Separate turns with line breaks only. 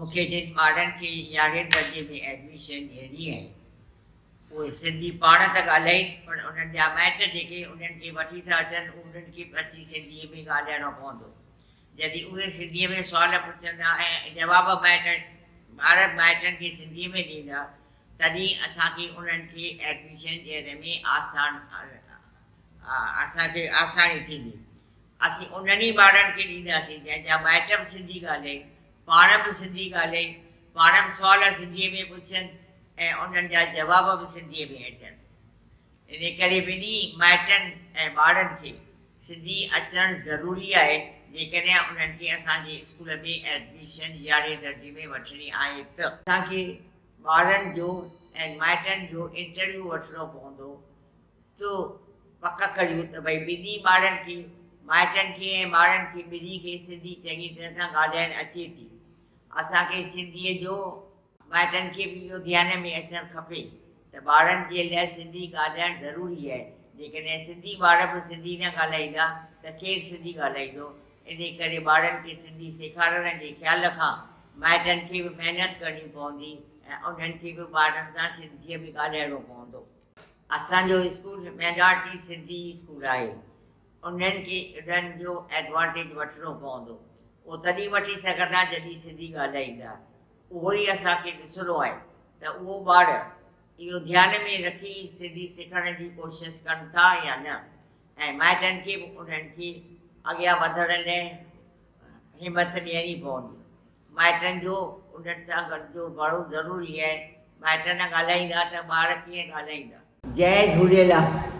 مون کي جن ٻارڙن کي يارهين درجي ۾ ايڊميشن ڏيڻي آهي، اهي سنڌي پاڻ ته ڳالهائين، پر انهن جا مائٽ جيڪي انهن کي وٺي ٿا اچن، انهن کي به اچي سنڌيء ۾ ڳالهائڻو پوندو. جڏهن اهي سنڌيء ۾ سوال پڇندا ۽ جواب مائٽ ٻار مائٽن کي سنڌيء ۾ ڏيندا، تڏهن اسان کي انهن کي ايڊميشن ڏيڻ ۾ آسان اسان کي آساني ٿيندي. اسين انهن ئي ٻارڙن کي ڏينداسين جنهن جا مائٽ به سنڌي ڳالهائين، پاڻ به سنڌي ڳالهائين، پاڻ به سوال سنڌيء ۾ پڇن ۽ انهن جا جواب به سنڌيء ۾ اچن. ان ڪري ٻنهي مائٽن ۽ ٻارڙن کي سنڌي اچڻ ضروري آهي جيڪڏهن انهن کي اسان جي اسڪول ۾ ايڊميشن يارهين درجي ۾ وٺڻي آهي ته. اسان کي ٻارڙن جو ۽ مائٽن جو انٽرويو وٺڻو پوندو تو پڪ ڪريون ته ڀئي ٻنهي ٻارڙن کي، مائٽن کي ۽ ٻارڙن کي ٻنهي کي سنڌي چڱي طرح سان ڳالهائڻ اچي ٿي. اسان کي سنڌيء جو مائٽن کي به اهو ڌيان ۾ اچڻ کپي ته ٻارڙن جي لاء سنڌي ڳالهائڻ ضروري آهي، جيڪڏهن سنڌي ٻار به سنڌي نه ڳالهائيندا ته ڪير سنڌي ڳالهائيندو؟ انهي ڪري ٻارڙن کي سنڌي سيکارڻ جي خيال کان مائٽن کي به محنت ڪرڻي پوندي ۽ انهن کي به ٻارڙن سان سنڌيء ۾ ڳالهائڻو پوندو. اسان جو اسڪول مينارٽي سنڌي اسڪول آهي انهن کي انهن جو ايڊوانٽيج وٺڻو پوندو اهو تڏهن وٺي سگهندا جڏهن سنڌي ڳالهائيندا اهو ئي اسان کي ڏسڻو آهي ته اهو ٻار اهو ڌيان ۾ رکي سنڌي سکڻ جي ڪوشش ڪن ٿا يا نه ۽ مائٽن کي به انهن کي اڳيان وڌڻ لاء همٿ ڏيڻي پوندي. مائٽن جو انهن سان گڏ جو ڀڙو ضروري آهي مائٽ نه ڳالهائيندا ته ٻار ڪيئن ڳالهائيندا. جئي جهوليلال.